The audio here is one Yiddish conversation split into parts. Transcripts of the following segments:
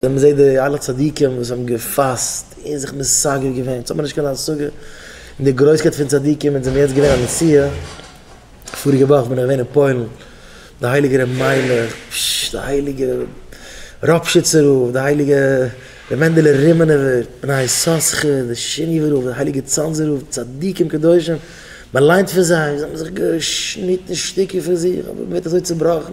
ווען מ'זעט די אלע צדיקים וואס האבן געפאסט און זיך מסגף געווען, יעצט האט מען נישט קיין השגה אין די גרויסקייט פון צדיקים, אונז האבן יעצט געווען א נסיעה, פאריגע וואך בין איך געווען אין פוילן, די הייליגע רבי מיילעך, פששש, די הייליגע ראפשיצער רב, די הייליגע רבי מענדעלע רימענעווער, בני יששכר, די שיניווע רב, די הייליגע צאנזער רב, צדיקים קדושים, מ'ליינט פון זיי, זיי האבן זיך געשניטן שטיקער פון זיך, אבער מ'ווערט אזוי צובראכן.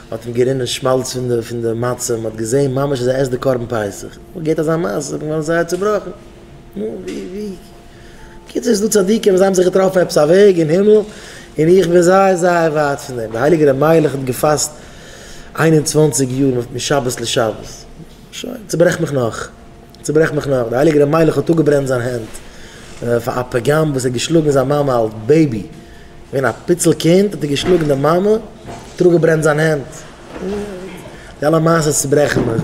האט אים גערינען שמאלץ פון די פון די מצה, מען האט געזעהן ממש אז ער עסט די קרבן פסח, מען געהערט אזא מעשה איז מען געווארן זייער צובראכן, נו ווי ווי, קיצור איז דא צדיקים וואס זיי האבן זיך געטראפן עפעס א וועג אין הימל, און איך בין זייער זייער ווייט פון דעם, דער הייליגער ר' מיילעך האט געפאסט איין און צוואַנציק יאר משבת לשבת, שוין, צוברעך מיך נאך. צוברעך מיך נאך, דער הייליגער רבי מיילעך האט אפגעברענט זיין הענט פאר א פגם וואס ער האט געשלאגן זיין מאמע אלס בעיבי, געווען א פיצל קינד האט ער געשלאגן די מאמע, האט ער אפגעברענט זיין הענט, די אלע מעשות צוברעכן מיך,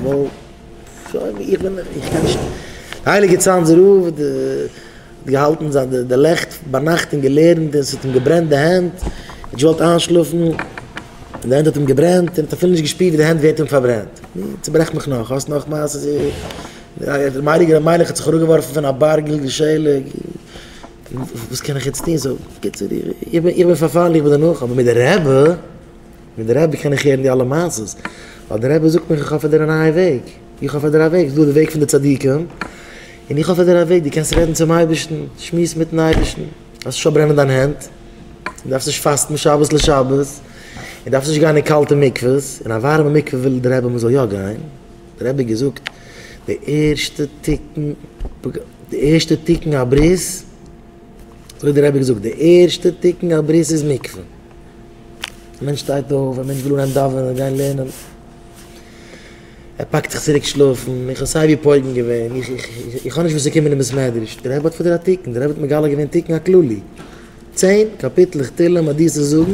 ווייל איך בין, איך קען נישט, דער הייליגער צאנזער רב, די. האט געהאלטן זיין די לעכט ביינאכט און געלערנט און ס'האט אים געברענט די הענט, ער האט געוואלט איינשלאפן און די הענט האט אים געברענט און ער האט אפילו נישט געשפירט ווי די הענט ווערט אים פארברענט. נו, צוברעך מיך נאך, האסט נאך מעשה'ס איר? דער מיידיגער המלך האט זיך אראפגעווארפן פון א בארג גילגול שלג, וואס קען איך יעצט טון? סאו, בקיצור, איך בין פארפאלן, איך בין דערנאך, אבער מיט די רבי, מיט די רבי קען איך הערן די אלע מעשה'ס, ווייל די רבי זאגט מיך איך האף ער דער נייע וועג. איך האף אז דער וועג איז דא די וועג פון די צדיקים, און איך האף אז דער וועג דו קענסט רעדן צום אייבערשטן, שמועס מיטן אייבערשטן, דארפסט נישט פארברענען דיין הענט, און דארפסט נישט פאסטן משבת לשבת, און דארפסט נישט גיין אין קאלטע מקוואות, אין א ווארעמע מקווה וויל דער רבי מען זאל יא גיין, דער רבי האט געזאגט די ערשטע תיקון די ערשטע תיקון הברית, אזוי האט דער רבי געזאגט די ערשטע תיקון הברית איז מקווה, א מענטש שטייט אויף, א מענטש וויל אנהייבן דאווענען, גיין לערנען. ער פאקט זיך צוריק שלאפן, איך האב סיי ווי פויגן געווען, איך איך איך האב נישט וואס צו קומען אין בית מדרש, דער רבי האט פאר דיר א תיקון, דער רבי האט מגלה געווען תיקון הכללי, צען קאפיטלעך תהלים האט דיר צו זאגן,